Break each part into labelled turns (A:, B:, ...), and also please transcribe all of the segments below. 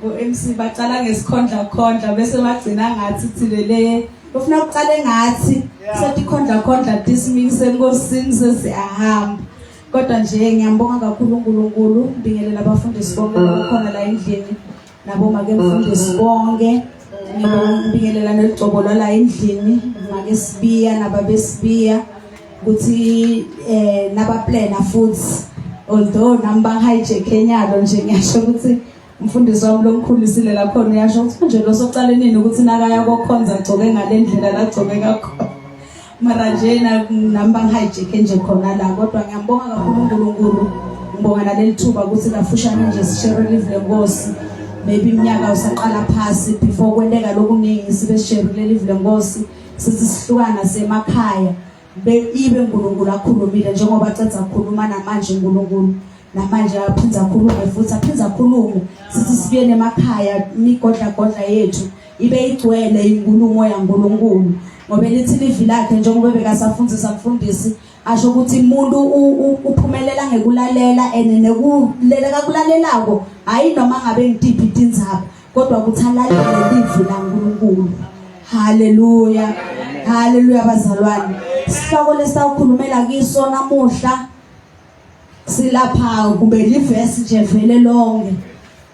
A: ngo-mc baqala ngesikhondlakhondla bese bagcina ngathi thilele ufuna kuqale ngathi sethi khondlakhondla dismikise enkosini sesiyahamba kodwa nje ngiyambonga kakhulu unkulunkulu mbingelela abafundisi bonke bakhona la endlini nabo make mfundisi bonke ngibingelela neligcobolala endlini make sibiya nababesibiya ukuthi eh nabaplana futhi although nami bangihijack enyalo nje ngiyasho ukuthi umfundisi wami lomkhulu silela khona uyasho ukuthi nje losoqale nini ukuthi nakaya kokhonza agcoke ngalendlela lagcoke kakhona mara nje nami bangihayijekhe nje khona la kodwa ngiyambonga kakhulu unkulunkulu ngibonga naleli thuba ukuthi kafushane nje sishere live lenkosi maybe iminyaka usaqala phasi before kwenteka lokuningi sibe sisherile live lenkosi sithi sihlukana semakhaya ibe unkulunkulu akhulumile njengoba cedza kukhuluma namanje unkulunkulu namanje aphinde akhulume futhi aphinde akhulume sithi sibuyele emakhaya imigodlagodla yethu ibe igcwele inkulumo yaNkulunkulu ngoba elithi livi lakhe njengoba bekasafundzisa mfundisi asho ukuthi umuntu uphumelela ngekulalela and nekulela kakulalelako hayi noma ngabe ngitiphi tindzaba kodwa ukuthi alalele livi laNkulunkulu haleluya haleluya bazalwane sihloko lesawukhulumela kiso namuhla silapha kube livesi nje vele lonke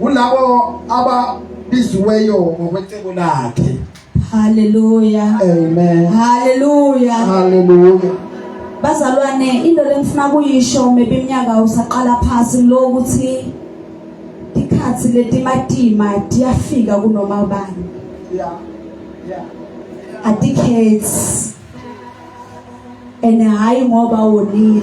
B: kulabo ababiziweyo ngokwecebo lakhe haleluya
A: amen
B: haleluya
A: haleluya
B: bazalwane
A: into lengifuna kuyisho maybe iminyaka usaqala phasi lo ukuthi isikhathi letimatima tiyafika kunoma ubani yeah
B: yeah
A: adikhethi and hayi ngoba wonile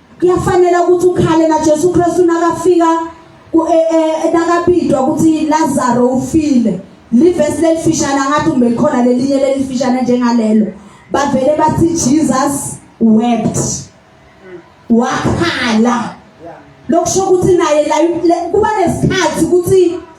A: kuyafanela ukuthi ukhale na Jesu Kristu nakafika e, e, nakabidwa ukuthi Lazaro ufile livesi lelifishana ngathi kumbe likhona lelinye lelifishana njengalelo bavele bathi Jesus wept wakhala lokusho ukuthi naye kuba nesikhathi ukuthi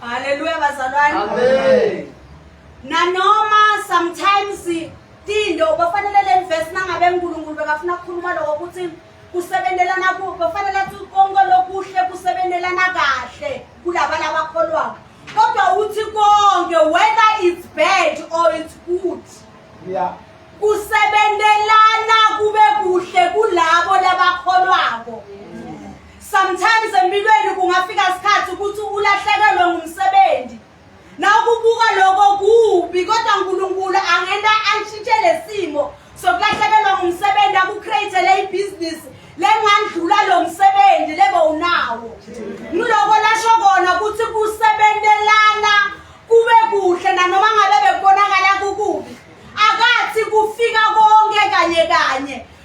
A: Haleluya bazalwane. Amen. Nanoma sometimes tindo bafanele le verse nangabe uNkulunkulu bekafuna ukukhuluma lokho ukuthi kusebenzelana ku bafanele athi konke lokuhle kusebenzelana kahle kulaba labakholwayo. Kodwa uthi konke whether it's bad or it's good. Yeah. Kusebenzelana kube kuhle kulabo labakholwako. Yeah. Sometimes empilweni kungafika isikhathi ukuthi ulahlekelwe ngumsebenzi. Nawukubuka lokho kubi kodwa uNkulunkulu angena antshintshe lesimo sokulahlekelwa ngumsebenzi akucreatele ibusiness lengandlula lo msebenzi lebe unawo. Ngiloko lasho kona ukuthi kusebenzelana kube kuhle nanoma ngabe bekubonakala kukubi. Akathi kufika konke kanye kanye.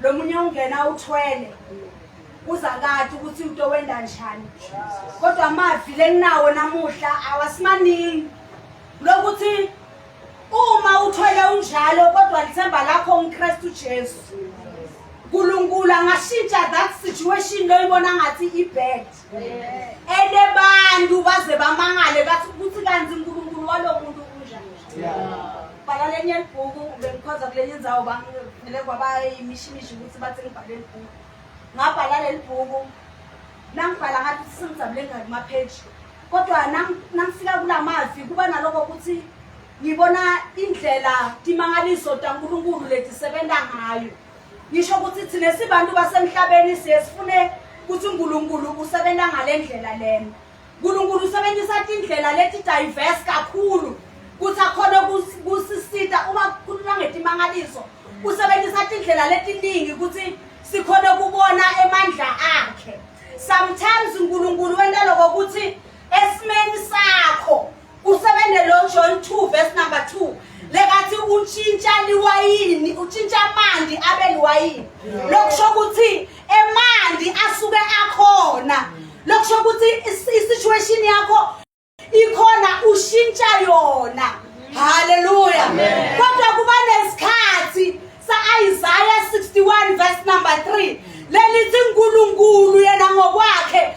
A: lo munye ungena uthwele uza kade ukuthi into wenda njani kodwa amavi lenginawo namuhla awasimaningi lokuthi uma uthwele unjalo kodwa lithemba lakho unkristu jesu nkulunkulu angashintsha that situation loyibona ngathi ibad and abantu baze bamangale bathi ukuthi kanti unkulunkulu walowo muntu unjani bhala lenye libhuku bengikhonza kulenye inzawo bangivele kwabayimishimishi ukuthi bathi ngibhale libhuku ngabhala leli bhuku nangibhala ngathi singijabule ngani mapheji kodwa nangifika kula mavi kuba naloko ukuthi ngibona indlela timangaliso tankulunkulu letisebenza ngayo ngisho ukuthi thina sibantu basemhlabeni siye sifune ukuthi uNkulunkulu usebenza ngalendlela lena uNkulunkulu usebenzisa indlela leti diverse kakhulu kuthi akhona kusisita uma kukhuluma ngetimangaliso usebenzisa indlela letiningi ukuthi sikhona kubona emandla akhe sometimes uNkulunkulu wenta lokho ukuthi esimeni sakho Kusebende lo John 2 verse number 2 lekathi utshintsha liwayini utshintsha amanzi abe liwayini lokusho ukuthi emanzi asuke akhona lokusho ukuthi isituation yakho ikhona ushintsha yona haleluya kodwa kuba nesikhathi sa-isaya 61 verse number 3 lelithi unkulunkulu yena ngokwakhe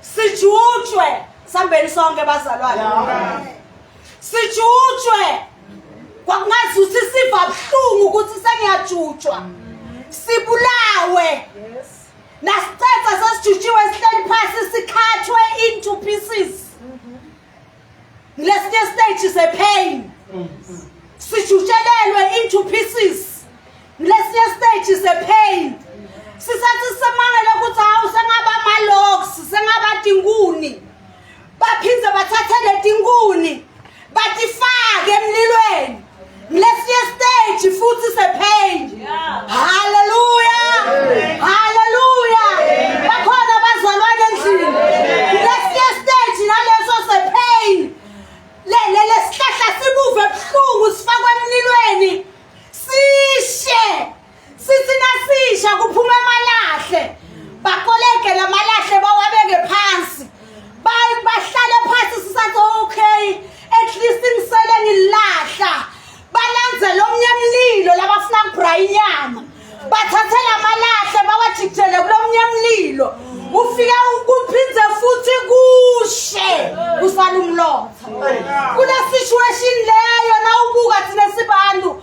A: sijutshwe sambeni sonke bazalwane sijutshwe kwakungazi ukuthi siva buhlungu ukuthi sengiyajutshwa sibulawe
C: nasicetha sesijutshiwe sihleli phasi sikhathwe into pieces Lesinye stage is a pain. Sijutshelelwe into pieces. Lesinye stage is a pain. Sisathi semangele ukuthi hawu sengaba ama-logs, sengaba tinkuni. Baphinde bathathe letinkuni batifake emlilweni. Lesinye stage futhi sephenje. Haleluya. Haleluya. Bakhona abazalwane endlini. Lesinye stage naleso sepain. Le le lesihlahla sibuve ebuhlungu sifakwa emlilweni. Sishe. Sisi nasisha kuphume amalahle. Bakoleke lamalahle bawabeke phansi. Bayi bahlale phansi sisathi okay at least ngisele ngilahla. Balandzele omnye mlilo labafuna kubra inyama. Bathathe lamalahle bawajikjele kulomnye mlilo. Ufika ukuphindze futhi kushe usala umlotha. Kule situation leyo nawubuka thina sibantu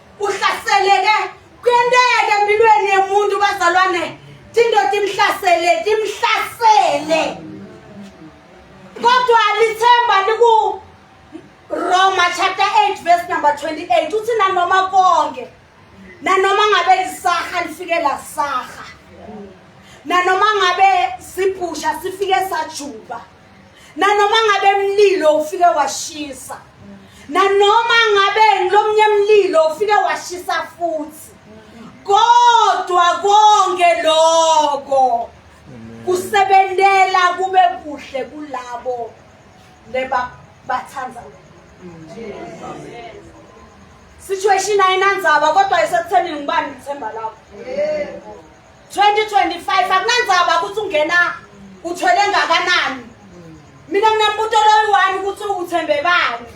C: uhlaseleke kuyenteka empilweni yemuntu bazalwane tindoda imhlasele timhlasele kodwa lithemba liku Roma chapter 8 verse number 28 uthi nanoma konke nanoma ngabe lisaha lifike la saha nanoma ngabe sibhusha sifike sajuba nanoma ngabe mlilo ufike washisa nanoma ngabe ngilomnye mlilo ufike washisa futhi kodwa konke lokho kusebentela kube kuhle kulabo leba bathanda situation ayinandzaba kodwa isekutheni ngibani ngithemba lapho 2025 akunandzaba ukuthi ungena uthwele ngakanani mina nginambuto loyi-one ukuthi uthembe bani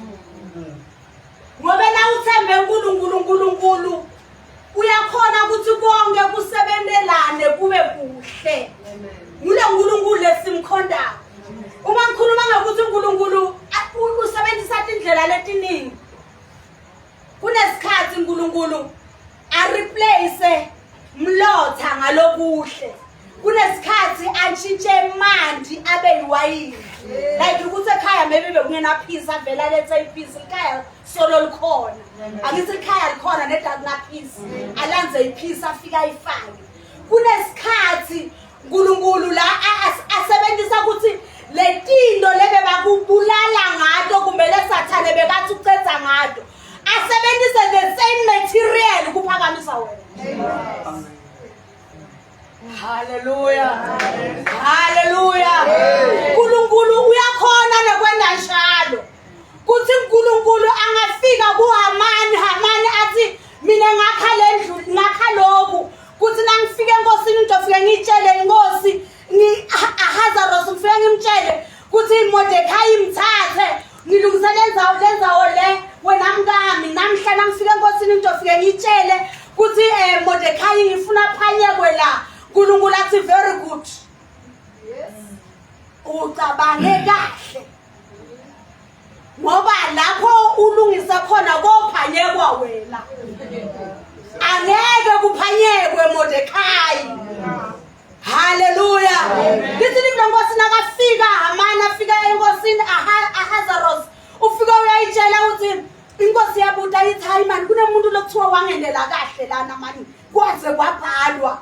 C: ngoba na uthembe unkulunkulu unkulunkulu uyakhona ukuthi konke kusebentelane kube kuhle ngule nkulunkulu lesimkhondayo uma ngikhuluma ngokuthi unkulunkulu usebenzisa tindlela letiningi kunesikhathi uNkulunkulu areplace mlotha ngalokuhle kunesikhathi antshintshe imandi abe yiwayini like ukuthi ekhaya maybe bekungenaphisi avela lethe iphisi ikhaya solo likhona angithi ikhaya likhona nedakunaphisi alanze iphisi afika ayifake kunesikhathi uNkulunkulu la asebenzisa ukuthi letinto lebe bakubulala ngato kumbe lesathane bekathi ucedza ngato asebenzise the same material kuphakamisa wena haleluya haleluya uNkulunkulu uyakhona nekwenda njalo kuthi uNkulunkulu angafika kuHamani Hamani athi mina ngakha le ndlu ngakha lokhu kuthi nangifika enkosini ngizofike ngiyitshele inkosi ahazaros ngifike ngimtshele kuthi imodekhayi imthathe ngilungise lenzawo lenzawo le wena mkami namhla nangifika enkosini ngizofike ngiyitshele kuthi um eh, modekhayi ngifuna phanyekwe la nkulunkulu athi very good ucabange kahle ngoba lapho ulungisa khona kophanyekwa wena angeke kuphanyekwe Mordecai haleluya lithi lithi lenkosi nakafika Hamani afika enkosini Ahazaros ufika uyayitshela ukuthi inkosi yabuta ithi hayi mani kunemuntu lokuthiwa wangendela kahle lana mani kwaze kwabhalwa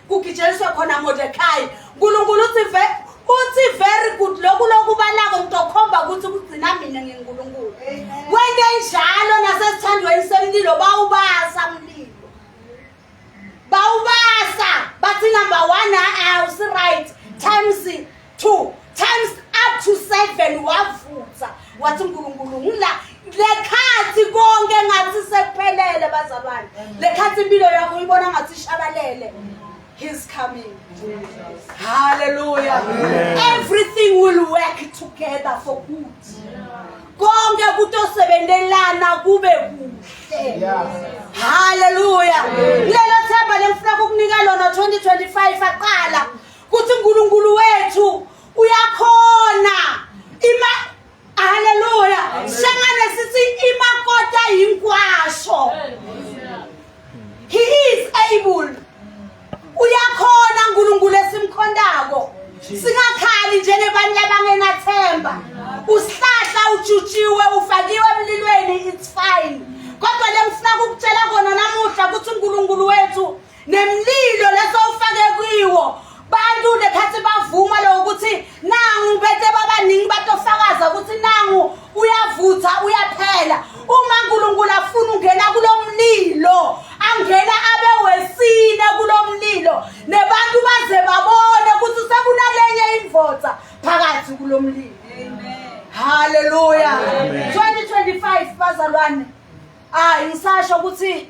C: kugitsheliswe khona Mordecai uNkulunkulu uthi ve uthi very good lokhu lokubalako ngizokhomba ukuthi kugcina mina ngeNkulunkulu wente njalo nasesithandweni semlilo bawubasa mlilo bawubasa bathi number 1 awusi right times two times up to seven wavutha wathi unkulunkulu ngila lekhathi konke ngathi sekuphelele bazalwane lekhathi impilo yakho uyibona ngathi ishabalele He's coming. Jesus. Hallelujah. Amen. Everything will work together for good. Konke kutosebenzelana kube kuhle. Hallelujah. Lelo themba lengifuna ukukunika lona 2025 aqala kuthi uNkulunkulu wethu uyakhona ima haleluya sengane sithi imakota yinkwasho he is able uyakhona uNkulunkulu esimkhondako singakhali njengebantu abangenathemba usihlahla ujutshiwe ufakiwe emlilweni it's fine kodwa lengifuna ukukutshela kona namuhla ukuthi uNkulunkulu wethu nemlilo lesowufake kwiwo bantu nekhathi bavuma lo ukuthi nangu bete babaningi batofakaza ukuthi nangu uyavutha uyaphela uma uNkulunkulu afuna ungena kulomlilo angena abe wesine kulomlilo nebantu baze babone ukuthi sekunalenye imvotsa phakathi kulomlilo haleluya 2025 bazalwane hayi ngisasho ukuthi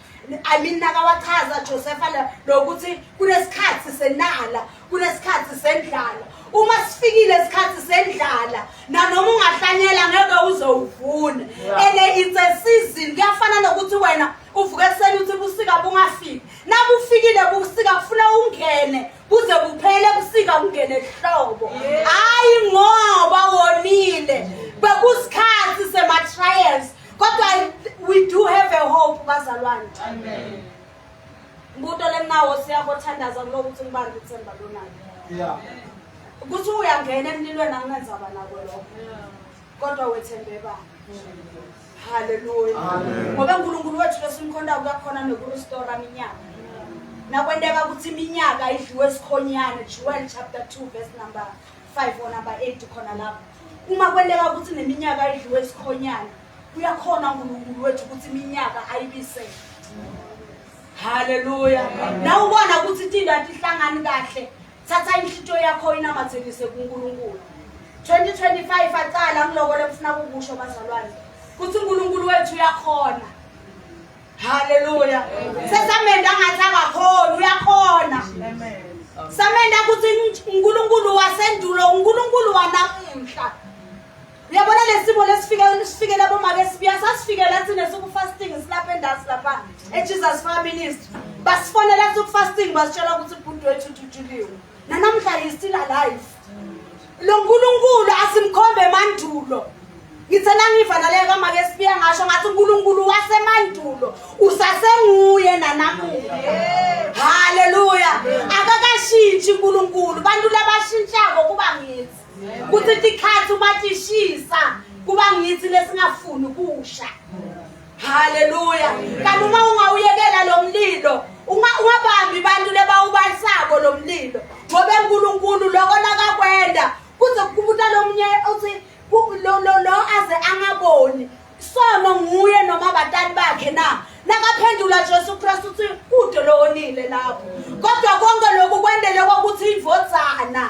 C: I mean nakawachaza Josepha la lokuthi kunesikhathi senala kunesikhathi sendlala uma sifikile isikhathi sendlala nanoma ungahlanyela ngeke uze uvune ene it's a season kuyafana nokuthi wena uvuke ekuseni uthi busika bungafiki nabufikile busika kufuna ungene kuze kuphele busika kungene ehlobo hayi ngoba wonile bekusikhathi sema-trials kodwa we do have a hope bazalwane amen mbuto lemnawo siyakothandaza kuloku ukuthi ngibambe ithemba lonalo yeah ukuthi uyangena emlilweni anginenzaba nako lokho kodwa wethembe bani haleluya ngoba unkulunkulu wethu lesimkhonda kuyakhona nokurestora minyaka nakwenteka ukuthi iminyaka idliwe esikhonyane jewel chapter 2 verse number 5 or number 8 khona lapho uma kwenteka ukuthi neminyaka idliwe isikhonyana uyakhona uNkulunkulu wethu ukuthi iminyaka ayibisele haleluya nawe ubona ukuthi itinto atihlangani kahle thatha inhlitiyo yakho inamathelise kuNkulunkulu 2025 aqala ngilokole kufuna kukusho bazalwane ukuthi uNkulunkulu wethu uyakhona Hallelujah. Sesamenda ngathi akakhona uyakhona. Amen. Samenda ukuthi uNkulunkulu wasendulo uNkulunkulu wanamuhla. Uyabona lesimo lesifike lesifike labo make sibuya sasifikela thina siku fasting silapha endasi lapha eJesus Fire Ministry. Basifonela siku fasting basitshela ukuthi ubhuti wethu uthutshuliwe. Nanamhla he still alive. lonkulunkulu asimkhombe emandulo ngithe nangiva naleyo kamake sibiya ngasho ngathi unkulunkulu wasemandulo usasenguye nanamuhla haleluya akakashintshi unkulunkulu bantu labashintshako kuba ngithi kuthi tikhathi uma tishisa kuba ngithi lesingafuni kusha Haleluya. Kanti uma ungawuyekela lo mlilo, ungabambi abantu lebawubalisako lo mlilo. Ngoba uNkulunkulu lokho lakakwenda kuze kubuta lomunye uthi lo lo lo aze angaboni. Sono nguye noma batali bakhe na. Nakaphendula Jesu Kristu uthi kude lo onile lapho. Kodwa konke lokhu kwendele ukuthi ivodzana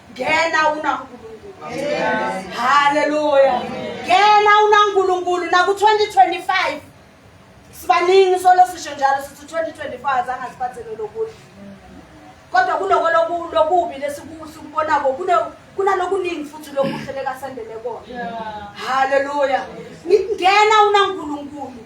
C: ngena una nkulunkulu haleluya ngena una nkulunkulu naku-2025 sibaningi solo sisho njalo sithi 2025 zange siphathele lokuthi kodwa kuloko lokubi lesikubonako kunalokuningi futhi lokuhle lekasendele kona haleluya ngingena unankulunkulu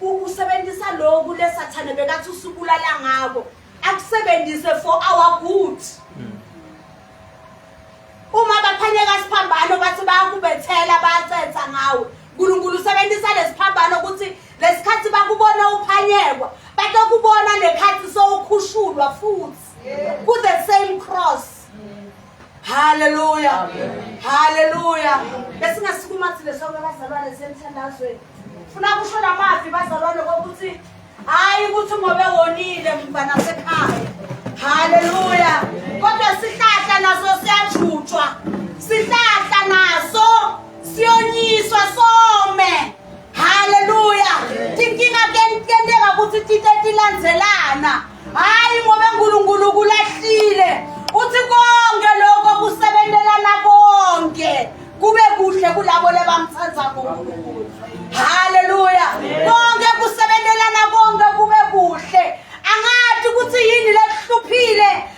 C: usebenzisa lokhu lesathane bekathi usubulala ngako akusebenzise for our good uma baphanyeka siphambano bathi bayakubethela bayacetha ngawe unkulunkulu usebenzisa lesiphambano ukuthi lesikhathi bakubona uphanyekwa batokubona nekhathi sowukhushulwa futhi ku-the same cross Haleluya. Haleluya. Besingasukuma thina sonke abazalwane semthandazweni. Funa kusho lamazwi bazalwane kokuthi hayi ukuthi ngobe wonile mfana sekhaya. Haleluya. Kodwa sihlahla naso siyajutshwa. Sihlahla naso siyonyiswa some. Haleluya. Tinkinga tenteka ukuthi tite tilandzelana. Hayi ngoba uNkulunkulu kulahlile. Uthi konke lokho kusebenzelana konke. Kube kuhle kulabo lebamthanda ngoNkulunkulu. Haleluya. Konke kusebenzelana konke kube kuhle. Angathi ukuthi yini lekuhluphile.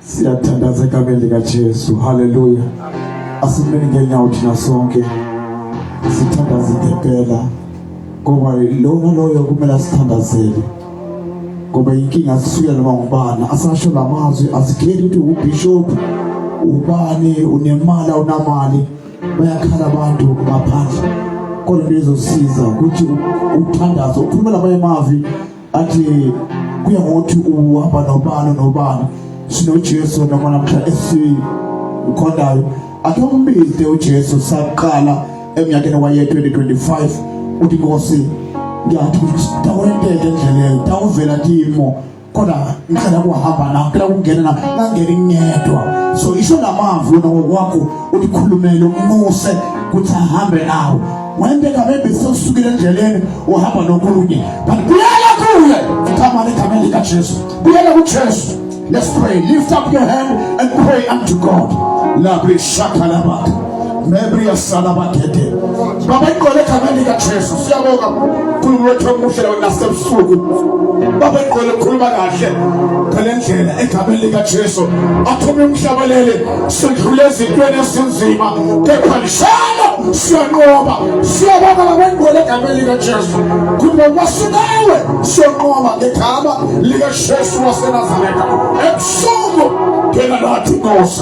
D: siyathandaza egameni likajesu haleluya asimeni ngenyawo thina sonke sithandaze ngempela ngoba lona loyo kumele asithandazele ngoba inkinga asisuya noma ngubani asasho la mazwi asikhethi ukuthi ubishop ubani unemali awunamali bayakhala abantu ngaphandle kodwa lizosiza ukuthi uthandazo ukhulume namanye amavi athi kuya ngokuthi uhamba nobani nobani sinojesu noma namhla esikhondayo akhe umbize ujesu saqala emnyakeni waye 2025 uthi nkosi ngiyathi ukuthi tawenteke endleleni tawuvela timo kodwa ngicela kuhamba na ngicela ukungena na ngangena ngedwa so isho ngamazwi wena ngokwakho ulikhulumele umnuse ukuthi ahambe nawe wende kabebe sekusukile endleleni uhamba nokunye but buyela kuye thamani egameni likajesu buyela kujesu let's pray lift up your hand and pray unto god labe shakhalabaka Mary yasala bagede. Baba iqole ekhanda lika Jesu siyabonga uNkulunkulu wethu omuhle lawo nasebusuku. Baba iqole ukhuluma kahle ngalendlela ekhanda lika Jesu. Athume umhlabalele sidlule ezintweni esinzima kepha lishalo siyanqoba. Siyabonga baba iqole ekhanda lika Jesu. Kuba wasinawe siyanqoba ekhanda lika Jesu waseNazaretha. Ebusuku kena lathi Nkosi